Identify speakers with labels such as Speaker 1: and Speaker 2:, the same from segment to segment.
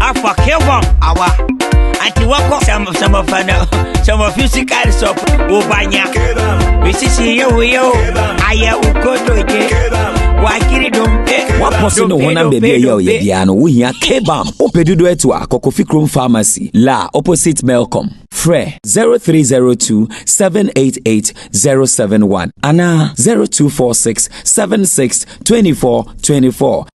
Speaker 1: afa kevon awa anti wakɔ sɛmɔfɛ no sɛmɔfi sika sɔp wobanya mesisi yɛ woyɛ o ayɛ wokodoye wakiri dompe wapɔ so ne honam
Speaker 2: baabi a ɛyɛ ɔyɛ biara no wohia kebam wopɛ dodo atu a kɔkɔfi krom pharmacy la opposite melcom frɛ 0302 788 071 anaa 0246 76 24 24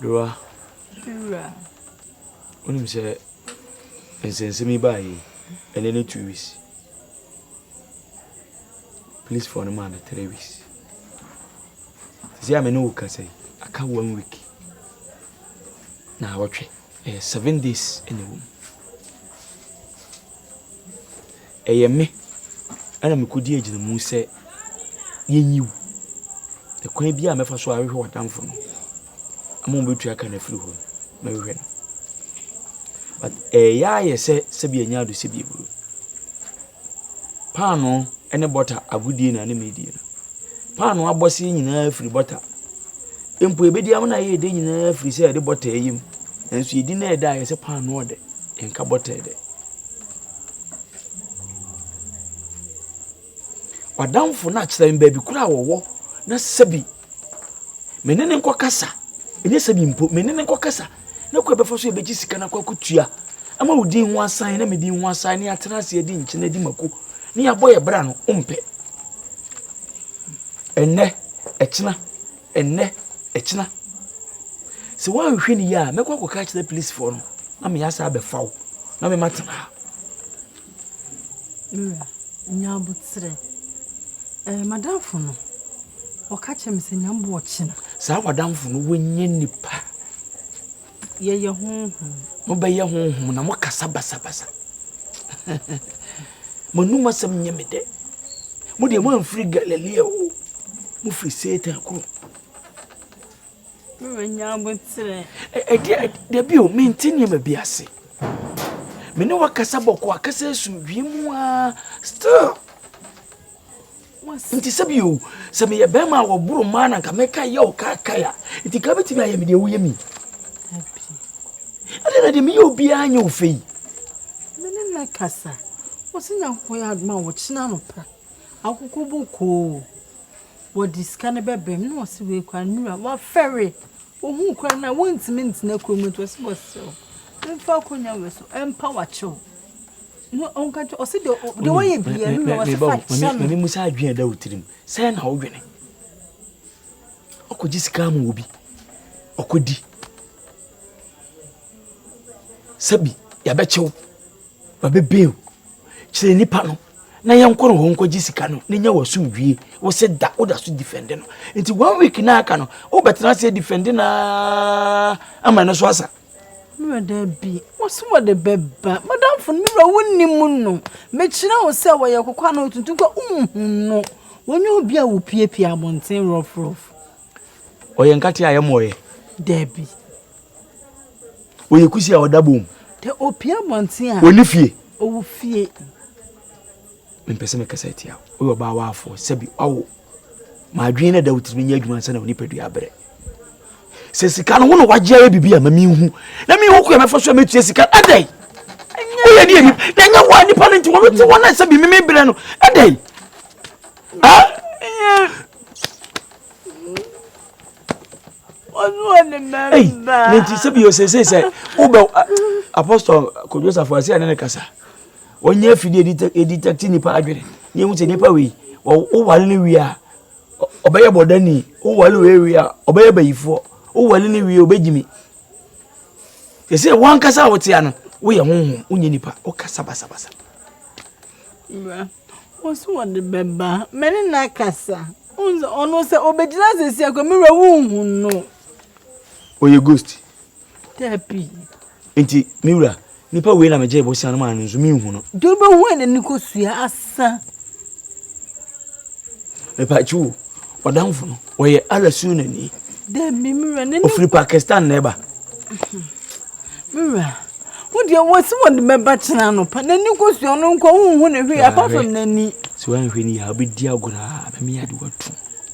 Speaker 3: Berewa, wonim sɛ nsɛnsɛm yi baa yie ɛnɛ ne two weeks policefoɔ no maa no three weeks sisi a me ne wo kasa yi aka one week na awɔtwe ɛyɛ seven days ɛna ɛwɔ mu Ɛyɛ me na mikodi agyinamu sɛ yenyi wo. Kwan biara a mɛfa so ahwehwɛ w'adamfo no ama obetu aka no afiri hɔ no, mɛhwehwɛ no. But ɛyɛ ara yɛ sɛ sɛbi ɛnyɛ ado sɛbi aburo. Paanoo ne bɔta agodie na ne meedie no. Paanoo abɔseɛ nyinaa firi bɔta. Mpo ebedi ama na yɛyɛ dɛ nyinaa firi sɛ yɛde bɔta ɛyɛ mu. Nanso yɛdi na ɛda a yɛ sɛ paanoo ɔdɛ, nka bɔta ɛdɛ. W'adamfo no akyerɛ me baabi koro a wɔwɔ na sɛbi me ne no nkɔ kasa, ɛnyɛ sɛbi mpo, me ne no nkɔ kasa na kɔ ɛbɛfa so ɛbɛgye sika na kɔ akutua ama wo din ho asan na me din ho asan ne atena ase adi nkyɛn adi mako ne abɔ yɛ bra no, wompɛ. Ɛnɛ, ɛkyena, Ɛnnɛ, ɛkyena. Sɛ woanhwɛ no yie a, mɛkɔ akɔka akyerɛ polisifoɔ no na me asa abɛfa wo na me ma tena ha. Wura,
Speaker 4: nyaboterɛ. Ɛɛ madamfo no, ɔka kyerɛ me sɛ nyambo ɔkyena. Saa wadamfo no,
Speaker 3: wanyɛ nipa.
Speaker 4: Yɛyɛ honhom. Mobɛyɛ
Speaker 3: honhom na mokasa basabasa. Mo anom asɛm nyɛ me dɛ. Mo deɛ moamfiri Galilea o, mofiri Satan kurom. Mobɛnya
Speaker 4: aboterɛ. Ɛdeɛ
Speaker 3: dabi o, mente nneɛma bi ase. Me ne wakasa bɔkɔ akasa esu wiem a still. Nti sɛ bio, sɛ meyɛ bɛrima a wɔboro mmaa na nka mɛka yɛ wo kaakae a, nti nka bɛtumi ayɛ me deɛ woyɛ mi. Ɛdeɛ na deɛ meyɛ obiara nyɛ wo fɛ yi. Me ne
Speaker 4: na kasa. Wɔsi Nyankopɔn yɛ adoma a wɔkyena anɔpa. Akoko bokoo. Wɔde sika no bɛbrɛ me na wɔsi wei kora nnura. Wɔafɛre. Ohun kora na wɔntumi ntena kurom nti wɔsi wɔsrɛ wo. Mfa akonnwa wei so mpa wakyew. Mebusa adwene a ɛda
Speaker 3: wo tirim sɛn na wodwene ɔkɔgye sika ama obi ɔkɔdi sɛbi yɛbɛkyew wabɛbeo kyerɛ nipa no na yɛnkɔ no hɔ nkɔgye sika no na nya wasomdwie wo se da woda so difɛnde no nti one week na aka no wobɛtena aseɛ difɛnde na ama no so asa Me wura, Dabi.
Speaker 4: Ɔse wɔde bɛba. Madamfo no, Me wura, wonnim no. Mekyerɛ wo sɛ ɔyɛ kɔkɔɔ anaa otuntum koraa a, wonhu no. Ɔnyɛ obi a wopiapia abɔnten rɔfrɔf.
Speaker 3: Ɔyɛ nkate a ɛmmɔeɛ. Dabi. Ɔyɛ kusi a ɔda bɔn mu. Dabi, ɔpia
Speaker 4: abɔnten a. Ɔnni fie. Ɔwɔ
Speaker 3: fie. Mempɛ sɛ mekasa atia wo. Woyɛ ɔbaa waafoɔ, sɛbi wawo. Ma adwene no da wo tirim nyɛ adwuma ansa na wo nipadua abrɛ. Sɛ sika no wo na wagye ayɛ biribi a ma menhu. Na menhu kwan mɛfa so a mɛtua sika no. Ɛdɛn? Woyɛ deɛ nipa. Na ɛnyɛ wo a nipa no nti wɔn te wɔn a sɛbi meme brɛ no. Ɛdɛn?
Speaker 4: Nti sɛbi yɛ sɛsei
Speaker 3: sɛ wobɛ apostol kodwosafoɔ ase a ne ne kasa. Wɔnyɛ afiri a ɛde yɛdetɛkte nnipa adwene na yɛhu sɛ nnipa wei wowale no wie a ɔbɛyɛ bɔdani wowale wei wie a ɔbɛyɛ bayifoɔ wowale no wie ɔbɛgyimi te sɛ wankasa a wotea no woyɛ honhom wonyɛ nnipa wokasa basabasa
Speaker 4: wo so wɔde bɛba mɛne no akasa ɔno sɛ ɔbɛgyina sɛsi akɔ mewura wonhu no ɔyɛ
Speaker 3: ghost Dabi.
Speaker 4: Enti,
Speaker 3: me wura, nipa wei na megyee bosea no maa no nso menhu no. Duru bɛhu a n'ani
Speaker 4: kosua asa.
Speaker 3: Mepakye o, ɔdamfo no, ɔyɛ Allah sunnani. Dabi, me wura,
Speaker 4: n'ani. Ofiri Pakistan na ɛba.
Speaker 3: Me wura,
Speaker 4: wo deɛ wɔsi wɔde bɛba kyena anɔpa, n'ani kosua no nkɔ, wonhu ne hwee apart from n'ani. Sɛ woanhwɛ ni a,
Speaker 3: wobɛdi agorɔ a, bɛmeyɛ ade watu.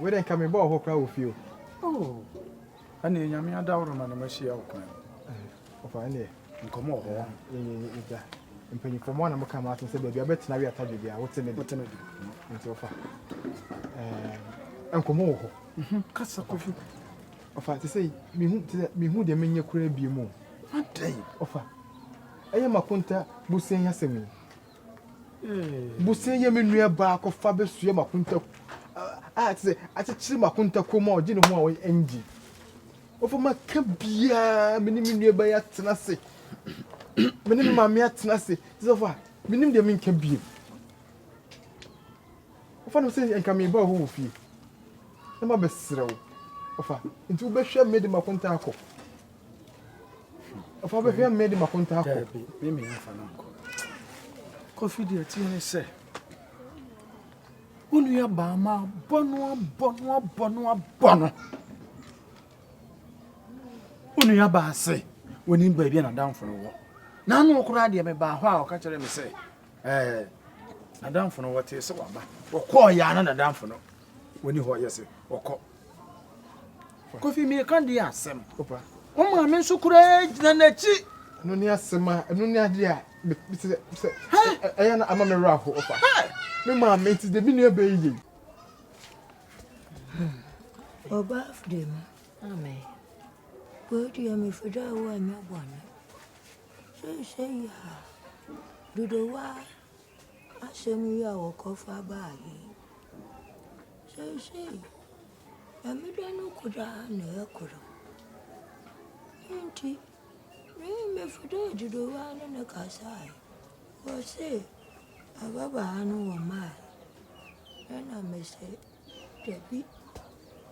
Speaker 5: Wei de nka me bɔɔ hɔ koraa wɔ fie o. Oh,
Speaker 6: ɛne nyame adaworo ma ne mahyia wo kwan.
Speaker 5: Ɔfa ɛneɛ. Nkɔmɔ wɔ hɔ.
Speaker 6: Yɛgya.
Speaker 5: Mpanyinfoɔ mo anam ka mo atom sɛ baabi abɛtena wi atadwe bia wote me de. Wote me de. Nti ɔfa. Nkɔmɔ wɔ hɔ. Mhm, kasa kofi.
Speaker 6: Ɔfa te
Speaker 5: sɛ mehu te sɛ mehu deɛ menyɛ koraa bi mu. Adɛn?
Speaker 6: Ɔfa.
Speaker 5: Ɛyɛ makonta busen yasɛm yi. Bosea yɛ me nua baa kɔfa bɛsua m'akonta a te sɛ akyekyere m'akonta kɔn mu a ɔgye ne ho a ɛngye. Ɔfa maka biara me ne me nua baa yi atena ase me ne me maame atena ase te sɛ ɔfa menim deɛ menka bio. Ɔfa no sɛ nka meba wɔ hɔ wɔ fie na mabɛsrɛ wo ɔfa nti wobɛhwɛ me de m'akonta akɔ. Ɛfɔ bɛ hwɛ mmedi mako ntaa kɔ. Daabi, me mmea mfa no
Speaker 6: nkɔ. Kofi deɛ ti ne sɛ. Wo nua baa ma abɔ no abɔ no abɔ no abɔ no. Wo nua baa se wɔnim baabi a n'adamfo no wɔ. N'ano koraa deɛ mebaa hɔ a ɔka kyerɛ me sɛ ɛɛ n'adamfo no wɔtee sɛ waba. Wɔkɔɔ yɛ a na n'adamfo no wɔni hɔ yɛ se wɔkɔ. Kofi mireka deɛ asɛm. Wo maame nso koraa gyina n'akyi. Ɛno ne asɛm a
Speaker 5: ɛno ne adeɛ a sɛ ɛyɛ na ama me werɛ aho ɔfa. Me maame nti deɛ me nua bɛyi yei.
Speaker 7: Ọba afide mu. Amen. Kwadu ya me fide a wo anya bɔne. Sɛ sɛ ya. Dodo wa. Asɛm yi a wɔkɔfa baa he, seesei Nyame dɔ no ko daa na ɔyɛ kor. Iyi ntsi, menye Mefodho Agyedowaa no na kasae. Wɔse ababaa no wɔmaa no, nna mese. Dabi,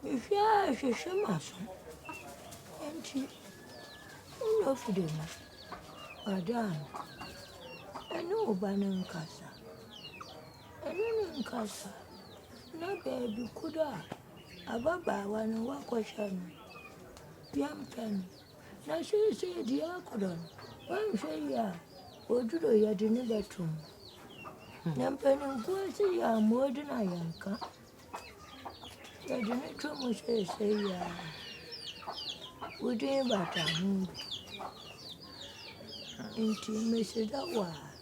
Speaker 7: mehwɛ ara hwehwɛ m'aso nti wonyɛ ofi de ma Madam no, ɛne wo ba no nkasa, ɛne no nkasa na baabi koraa a ababaawa no woakɔhwɛ no yɛmpɛ no. Na seesei diakono no, woanhwɛ yie a, oduro yɛde no bɛto mu. Na mpaninfoɔ se yɛammɔ din a yɛnka. Yɛde no to mu seesei yie a. Wo din bata ho. Nti meseda wo a.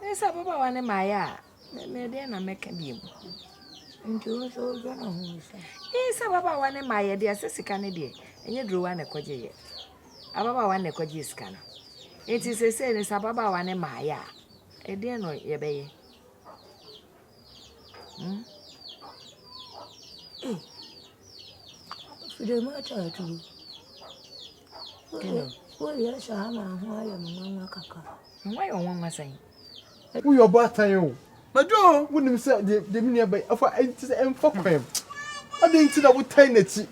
Speaker 8: Me sɛ ababaawa no maayɛ a medeɛ na mɛka bi mu nti
Speaker 7: wo nso wodwa na ho nsa ee sɛ ababaawa
Speaker 8: no maayɛ deɛ sɛ sika no deɛ ɛnyɛ durowa na ɛkɔgye yɛ ababaawa na ɛkɔgye sika no nti sɛ sɛ ne sɛ ababaawa no maayɛ a ɛdeɛ no yɛbɛyɛ
Speaker 7: Hmm. Hey. Fidel ma atwa aduru. Hello. Woyɛ hyɛ ha ma ho ayɛ me nwanwa kakra. Nwa yɛ nwanwa
Speaker 8: sɛn? Woyɛ ɔbɔ
Speaker 5: atan o. Madwo o, wonim sɛ deɛ me nua bɛyɛ afa ɛnti sɛ ɛmfa kwan. Ɔde nti na wotan n'akyi.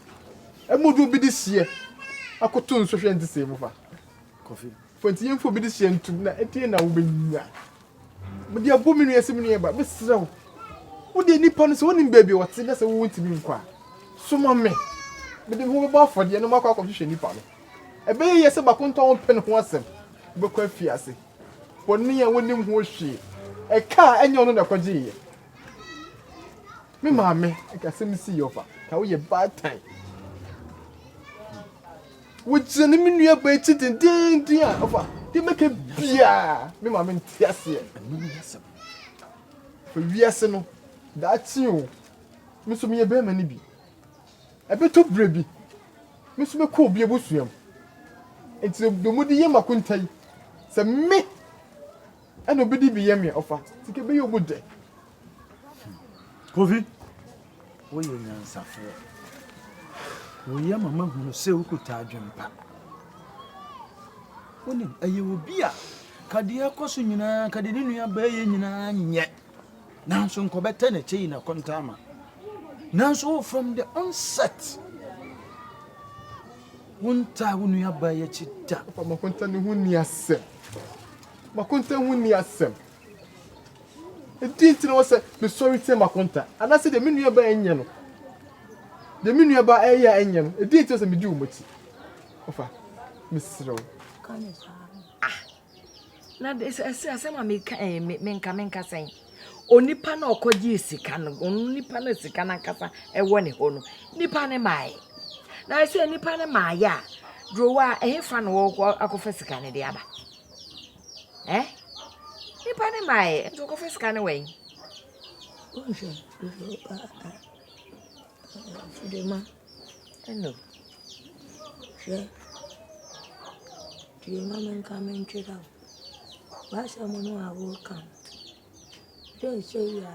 Speaker 5: Ɛmu de obi de hyeɛ akoto nsɔhwɛ nti sɛ ɛmu fa. Kɔfi.
Speaker 6: Fo nti yɛmfa obi de
Speaker 5: hyeɛ ntum na ɛdeɛ na wobɛnya. Mede abɔ me nua sɛ me nuaba, mesrɛ wo, wo deɛ nnipa no sɛ wonim baabi a ɔte na sɛ wontumi nkɔ a, soma me. Mede me ho bɛbɔ afɔdeɛ na makɔ akɔhwehwɛ nnipa no. Ɛbɛyɛ yie sɛ baako ntɔ wo mpɛ ne ho asɛm. Wobɛkɔ afiase. Bɔne a wonim ho hwee. Ɛka a ɛnyɛ ɔno na ɛkɔgyeeɛ. Me maame ɛka asɛm sii ɔfa. Ka woyɛ baatan. Wogyina ne me nuabaa akyi dendeenden a, ɔfa, deɛ mɛka biara, me maame nte aseɛ. Ɛno ne asɛm. Fa wiase no, daakye o, me nso meyɛ bɛrima no bi. Ɛbɛtɔ berɛ bi, me nso mɛkɔ obi abusua mu. Enti deɛ mode yɛ mo akonta yi, sɛ me, Ɛna obi de bi yɛ me ɔfa ti ke bɛyɛ ɔmu dɛ.
Speaker 6: Kofi, woyɛ onyansafoɔ. Woyɛ ma mahunu sɛ wokuta adwempa. Wonim, ɛyɛ obi a ka deɛ ɛkɔ so nyinaa, ka deɛ ne nua bɛyɛ nyinaa nyɛ. Nanso nkɔbɛtɛ na ɛkyɛ yi na kɔntaa ma. Nanso wo from the onset, wontaa wo nua bɛyɛ akyi da. Papa, makɔntaa ne ho
Speaker 5: ni asɛm. M'akonta ho nni asɛm. Ɛdeɛn nti na ɛwɔ sɛ mesɔre tia m'akonta? Anaasɛ deɛ me nuabaa nyɛ no, deɛ me nuabaa reyɛ a ɛnyɛ no, ɛdeɛn nti na ɛwɔ sɛ medi wɔn akyi? Ɔfa, mesrɛ wo. Ka no
Speaker 7: paa.
Speaker 8: Ah, na ɛsɛ asɛm a meka ɛɛ eh, menka menka sɛn? Onipa na ɔkɔgyee sika no, ɔno nipa na sika no ankasa ɛwɔ ne hɔ no, nipa ne maae. Na ɛsɛ nipa ne maae a, drowa ɛhefa na wɔkɔ akɔfa sika no de aba? Ɛɛ nipa no maa yɛ nti ɔkɔfa sika no wɛn. Wonhwɛ
Speaker 7: Fidema. Ɛno. Hwɛ. Tie ma me nka me ntwerɛ wo. W'asɛm no a woka no. Dɛ ɛsɛ yi a.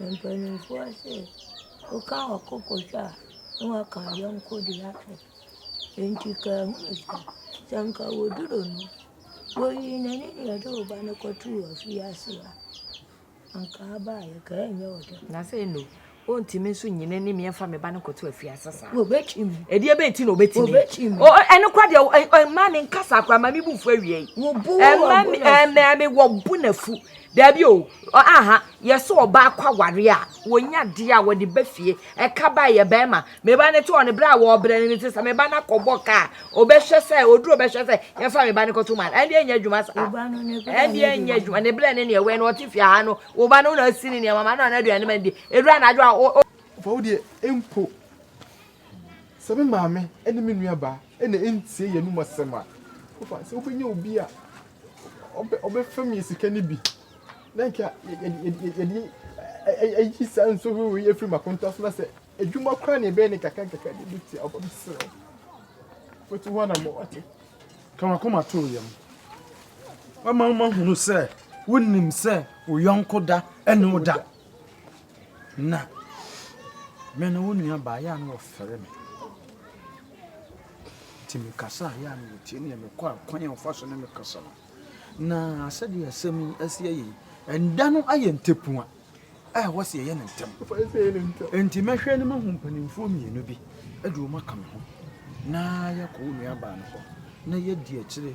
Speaker 7: Mpanimfoɔ se woka ɔko kɔtwa a na waka wo yɔnko de akyɛ. Enti kaa hunu sɛ, sɛ anka wɔduru no, wɔyii n'ani de ɔde wo ba no kɔtoo afiase a, anka abaeɛ ka ɛnyɛ wo dɛ. Na sɛ no,
Speaker 8: ɔntumi nso nyi n'ani me mfa me ba no kɔto afiase saa. Wɔbɛtumi. Ɛdeɛ e
Speaker 7: bɛn nti na ɔbɛtumi?
Speaker 8: Wɔbɛtumi. Ɛno
Speaker 7: kora
Speaker 8: deɛ mmaa me nkasa akora ma me bu fu awie yi. Wɔbu wɔ
Speaker 7: bo na fu. Mmaa me
Speaker 8: wɔ bo na fu. Dabi o, ɔaha, yɛse ɔbaa kɔ aware a, wɔnya adeɛ a wɔde ba fie, ɛka ba yɛ bɛɛma, me ba no te hɔ no, berɛ a wɔɔbrɛ no no te sɛ me ba no akɔbɔ kaa, ɔbɛhwɛ sɛ, ɔduru ɔbɛhwɛ sɛ, yɛmfa me ba no kɔto man, ɛndeɛ ɛnyɛ adwuma saa, ɛndeɛ ɛnyɛ adwuma, ne berɛ ne neɛ wɛn no ɔte fie ha no, wo ba no wo na asi ne nneɛma ma no na aduane ma no di, ɛduru anadwo a, o, o. Ɔfa wo deɛ
Speaker 5: mpo, sɛ me maame ne me nuabaa na entie yɛn anom asɛm a, wofa no sɛ wobenya obi a ɔbɛfɛm yɛn sika no bi, na anka yɛde ayi saa nsɔhwɛ wei afiri m'akonta so, na sɛ adwuma koraa na ɛbɛyɛ ne kakra nkakra de bi tia ɔba mesrɛ wo fatu hɔ na ma wate ka wakoma
Speaker 6: too yam wama mahunu sɛ wonim sɛ wo yɔnko da ɛne wo da Na me no wo nua baa yɛ a na wɔfɛre me nti me kasa a yɛ a na wɔtie ne me kɔ a kwan a wɔfa so ne me kasa no na sɛdeɛ asɛm yi asi ayɛ yi ɛnda no ayɛ ntɛpua a ɛwɔ sɛ yɛyɛ ne ntɛm nti mɛhwɛ no mahu mpanimfoɔ mmienu bi de wɔn aka me ho na yɛakɔ wo nua baa no hɔ na yɛadi akyire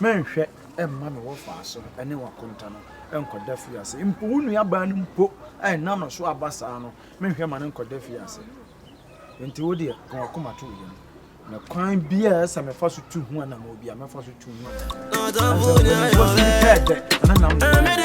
Speaker 6: Mɛnhwɛ mma me wɔfaa so ne w'akonta no nkɔda fie ase. Mpo wo nuabaa no mpo a ɛnam no so aba saa no, menhwɛ mma no nkɔda fie ase. Enti wo deɛ, ka w'akoma to wo yam. Na kwan bi a ɛsɛ mefa so tu ho anammɔn bi a, mɛfa so tu ho anammɔn.
Speaker 9: Ɛnso,
Speaker 6: ɛnam
Speaker 9: ne